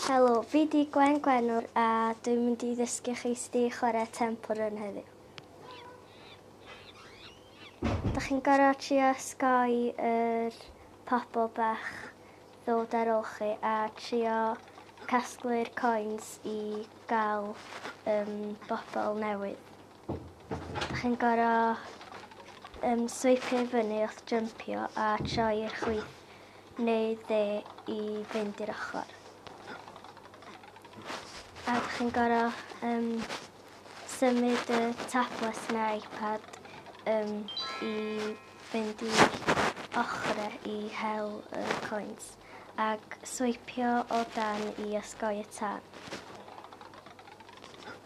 Helo, fi 'di Gwen Gwenwr a dwi'n mynd i ddysgu chi sut i chwarae Temple Run heddiw. Da chi'n gorfod trio osgoi yr pobl bach ddod ar ôl chi a trio casglu'r coins i gael yym bobl newydd. Chi'n goro yym sweipio i fyny wrth jympio a troi i'r chwith neu dde i fynd i'r ochor. A dych chi'n goro yym symud y tablet neu iPad yym i fynd i ochre i hel y coins ac sweipio o dan i osgoi y tân.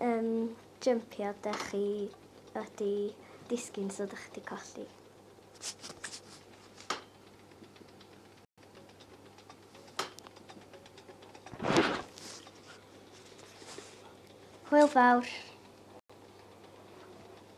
Yym, jympio, dych chi wedi disgyn so dych chi wedi colli. Hwyl fawr!